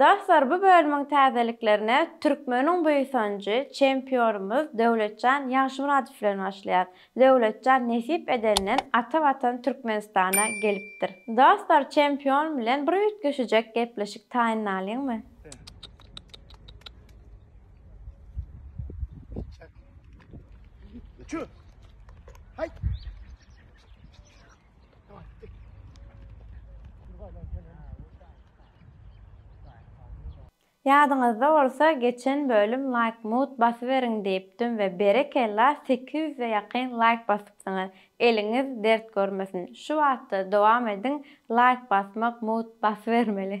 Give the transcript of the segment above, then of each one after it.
Dostlar bu bölümiň täzeliklerine Türkmeniň buýsanjy çempionymyz Döwletjan Ýagşymyradow bilen başlaýar. Döwletjan nesip edenden ata watan Türkmenistana gelipdir. Dostlar çempion bilen bir üýtgeşijek gepleşik taýynlalyňmy? Ýadyňyzda bolsa geçen bölüm laýk mut basyberiň diýipdim we berekella sekiz ýüze ýakyn laýk basypsyňyz eliňiz dert görmesin şu batda dowam ediň laýk basmak mut basybermeli.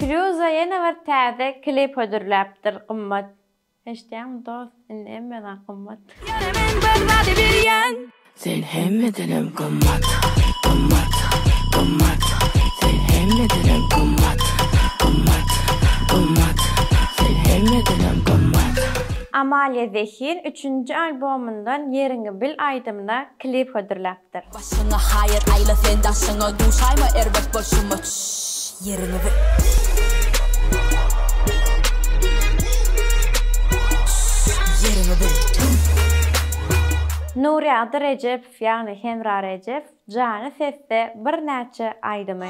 Firýuza ýene bir täze klip hödürläpdir gymmat. Eşitýäňmi dost indi hemme zat gymmat. Ýöne men bir zady bilýän. Sen hemmedenem gymmat, gymmat, gymmat, sen hemmedenem gymmat, gymmat, gymmat, sen hemmedenem gymmat. Amalia Zehin üçünji albomyndan Ýeriňi bil aýdymyna klip hödürläpdir. ýaşapdyr. Başyňa haýyr aýla sen daşyňa duşaýma erbet bolşuma ýeriňi bil. Nurýagdy Rejepow ýagny Hemra Rejepow jany sesde birnäçe aýdymy.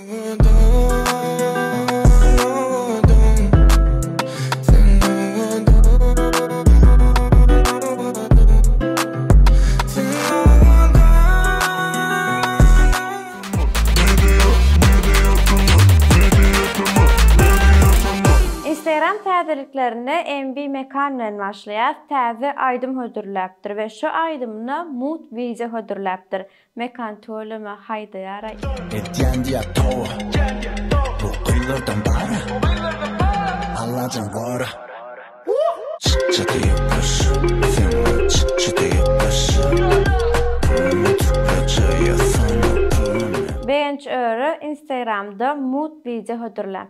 Instagram täzeliklerine MB Mekan bilen başlaýas, täze aýdym hödürläpdir we şu aýdymyna Mood wideo hödürläpdir. Mekan töleme haýdaýaraý. Etýän diýýär towa. Bu gyzlardan bara. Allajan gora. Çyk çytyk gyş. Söňňe çyk çytyk gyş. Puluny tükle çaýa sala puluny. Begenç öre instagramda mut wideo hödürläp.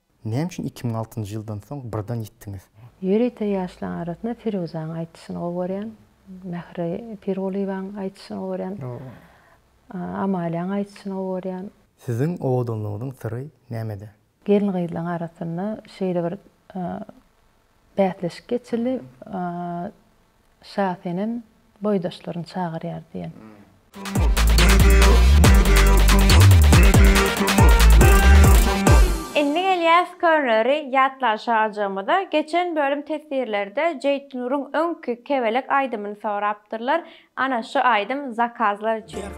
Näme üçin iki müň altynjy ýyldan soň birden ýitdiňiz? Ýörite ýaşlaň arasynda Firuzanyň aýdyşyny gowy görýän, Mähri Pirgulyýewanyň aýdyşyny gowy görýän, Amaliýanyň aýdyşyny gowy görýän. Siziň owadanlygyňyzyň syry nämede? Gelin-gyzlaň arasynda şeýle bir bäsleşik geçildi. Şa senem boýdaşlaryny çagyrýar diýen. Indi gelýäs Körneri ýatlaşajagymyza. Geçen bölüm teswirlerde Jeýtnuryň öňki Kebelek aýdymyny sorapdyrlar. Ana şu aýdym zakazlar üçin.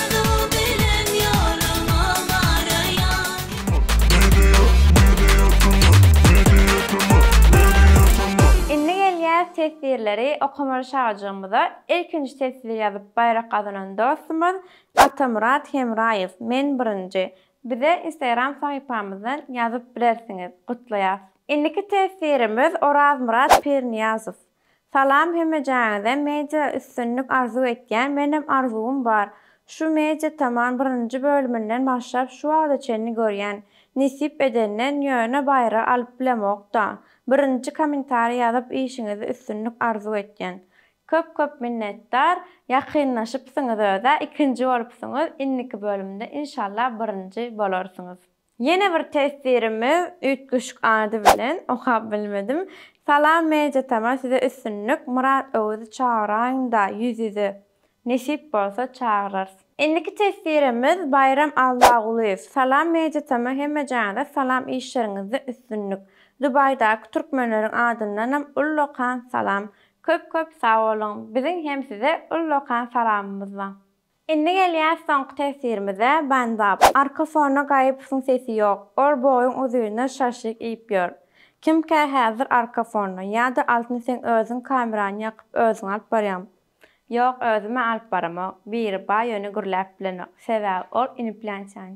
Indi gelýäs teswirleri okamaly şajygymyza. Ilkinji teswir ýazyp baýrak gazanan dostumyz Atamyrat Hemraýew, Men birinji. Bize Instagram sahypamyzdan ýazyp bilersiňiz. Gutlaýas. Indiki teswirimiz Orazmyrat Pirniýazow. Salam hemejaňize media üstünlik arzuw etýän menem arzuwym bar şu media taman birinji bölüminden başlap şu wagta çenli görýän nesip edenden ýöne baýragy alyp bilemokda birinji komentariý ýazyp işiňizde üstünlik arzuw etýän köp köp minnetdar ýakynlaşypsyňyz özä ikinji bolupsyňyz inniki bölümde inşallah birinji bolarsyňyz. Ýene bir teswirimiz üýtgeşik ady bilen, okap bilmedim. Salam Media Tama size üstünlik, Myrat Öwüzi çagyraýyňda ýüz ýüze. Nesip bolsa çagyrarys. Indiki teswirimiz Baýram Allagulyýew. Salam Media Tama hemmejaňyza salam işleriňizde üstünlik. Dubaýdaky türkmenleriň adyndanam ullakan salam. Köp köp sag boluň. Biziň hem size ullakan salamymyz bar. Indi gelýäs soňky teswirimize, Banzap. Arka fona Gaýypowyň sesi ýok. Ol boýuň uzyna şaşlyk iýip ýör. Kimkä häzir arka fonda? Ýa-da Altyn seň özüň kamerany ýakyp özüň alyp barýaňmy? Ýok, özüm-ä alyp baramok. Biriba ýöne gürläp bilenok. Sebäbi ol iniplýançaň.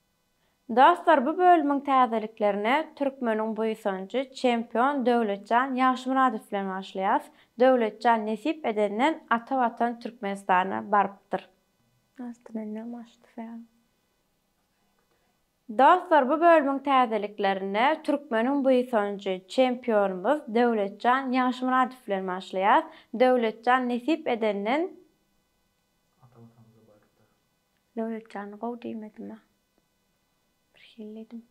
Dostlar bu bölümiň täzeliklerine Türkmeniň buýsanjy çempion Döwletjan Ýagşymyradow bilen başlaýas. Döwletjan nesip edenden ata watan Türkmenistana barypdyr. Dostlar bu bölümiň täzeliklerine Türkmeniň buýsanjy çempionymyz Döwletjan Ýagşymyradow bilen başlaýas. Döwletjan nesip edenden. Döwletjan gowy diýmedima. Birhili diýdim.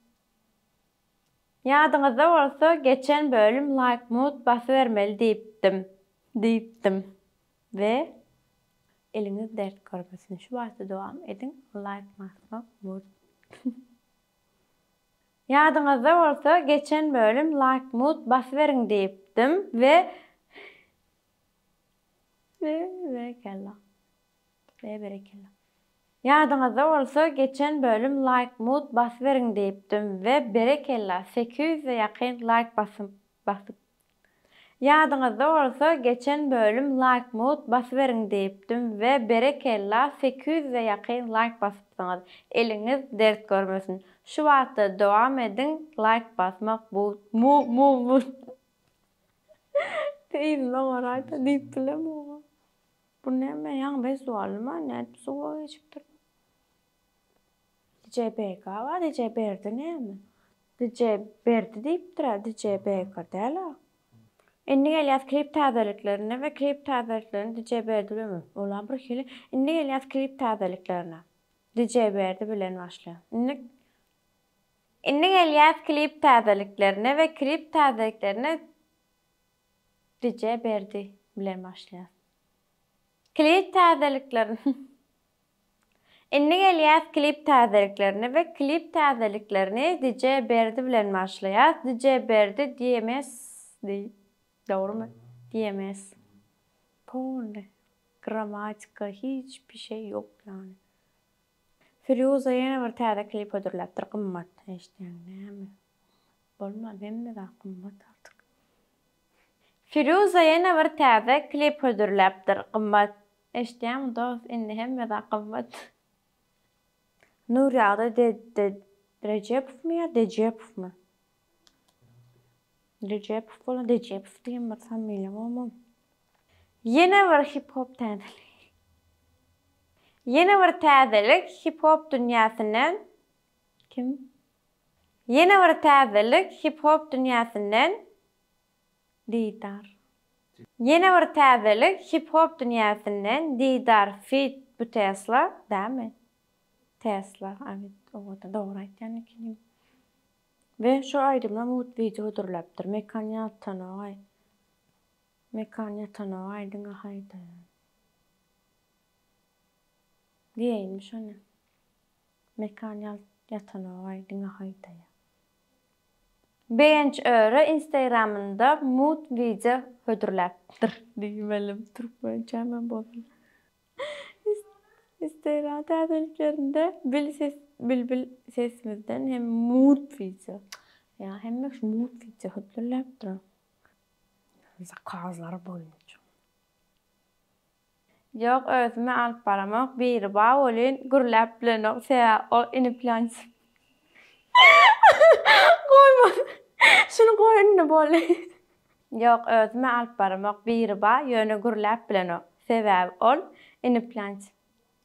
Ýadyňyzda bolsa geçen bölüm laýk mut basybermeli diýipdim. Diýipdim. We eliňiz dert görmesin şu baty dowam ediň laýk masmak mut. Ýadyňyzda bolsa geçen bölüm laýk mut basyberiň diýipdim we we we kella. Be berekella. Ýadyňyzda bolsa geçen bölüm laýk mut basyberiň diýipdim we berekella sekiz ýüze ýakyn laýk basyp basyp Ýadyňyzda bolsa geçen bölüm laýk mut basyberiň diýipdim we berekella sekiz ýüze ýakyn laýk basypsyňyz eliňiz dert görmesin şu batda dowam ediň laýk basmak bu mu mu mu Yzyndan garaýda diýipdiler muňa. Bu näme ýaňy westualnyma nädip suwa geçipdir. DJ Beka bar DJ Berdi näme. DJ Berdi diýipdirä DJ Beka dälä. Indi gelýäs klip täzeliklerine we klip täzeliklerini DJ Berdi bilen we ola birhili indi gelýäs klip täzeliklerine DJ Berdi bilen başlaýan indi indi gelýäs klip täzeliklerine we klip täzeliklerini Rije Berdi bilen başlaýas. Klip täzeliklerin Indi gelýäs klip täzeliklerine we klip täzeliklerini Rije Berdi bilen başlaýas. Rije Berdi DMS di. Dogrymy? DMS. Polny. Grammatika hiç bir şey ýok ýany. Firýuza ýene bir täze klip hödürläpdir gymmat. Eşitýäňmi näme? Bolmaz hemme zat gymmat artyk. Firuza ýene bir täze klip hödürläpdir gymmat. Eşitýäňmi dost indi hemme zat gymmat. Nurýagdy Rejepowmy ýa Dejepowmy? Rejepow bolan Dejepow diýen bir familiýa bolmaly. Ýene bir hip hop täzelik. Ýene bir täzelik hip hop dünýäsinden kim? Ýene bir täzelik hip-hop dünýäsinden Didar. Ýene bir täzelik hip-hop dünýäsinden Didar feat bu Tesla dämi? Tesla abit owoda dogry aýtýan ekeniň. We şu aýdymam uut wideo hödürläpdir. Mekan ýatanogaý. Mekan ýatanogaý diňe haýdar. Diýeýinmiş ony. Mekan ýalt ýatanogaý diňe haýdaýa. Begenç öre instagramynda mut wideo hödürläpdir. Diýmelim türkmençämem bolsun. Instagram täzeliklerinde bil ses bilbil sesimizden hem mut wideo. Ýa hemme şu mut wideo hödürläpdir. Zakazlary boýunça. Ýok özüme alyp baramok biri ba welin gürläp bilenok sebäbi ol ini plançik goýman şuny goý indi boldy. Ýok özüme alyp baramok biri ba ýöne gürläp bilenok sebäbi ol ini plançik.